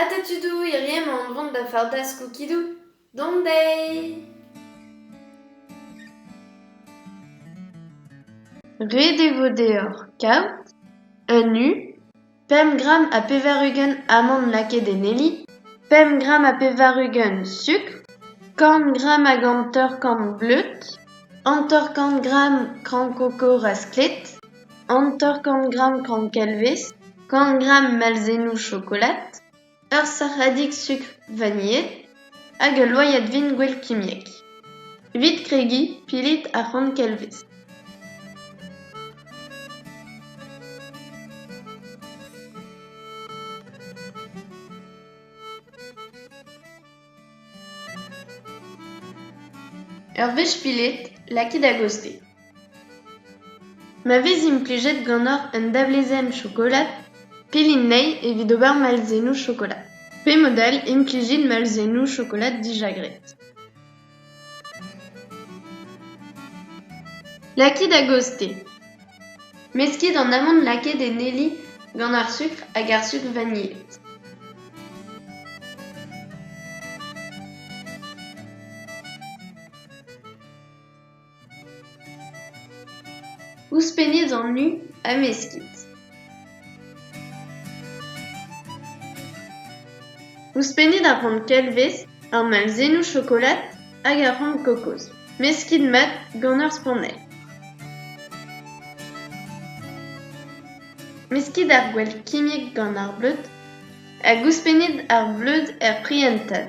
Ata tudou hiriv emaon o vont da fardas koukidou. Dont dezhi! Ret e vo deoc'h kaout un u pemp gramm ha pevar-ugent amann lakaet en heli, pemp gramm ha pevar-ugent sukr, kant gramm hag hanter-kant bleud, hanter-kant gramm kran koko rasklet. hanter-kant gramm kankilvez, kant gramm malzennoù chokolad, ur sac'hadig sukr vanilhet hag ul loyad vin gwell kimiek. Evit kregiñ, pilit ar c'hankilvez. Ur wech pilet, lakit a-gostez. Ma vez implijet ganeoc'h un davlezenn chokolad, pellit anezhi evit ober malzennoù chokolad, pe mod all implijit malzennoù chokolad dija graet. Lakit a-gozh-te. Meskit an amann lakaet en heli gant ar sukr hag ar suc'h vanilhet. Ouzhpennit an u ha meskit. Ouzhpennit ar c'hont kelvez, ar malzennoù chokolad hag ar c'hont kokoz. Meskit mat gant ur spannell. Meskit ar gwall kimiek gant ar bleud hag ouzhpennit ar bleud er prientad.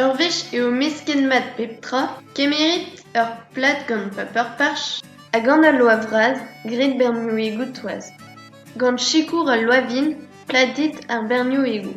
Ur wech eo mesket-mat pep tra, kemeret ur plad gant paper-parch ha gant al loa vras graet bernioùigoù-toaz. Gant sikour al loa-vin pladet ar bernioùigoù.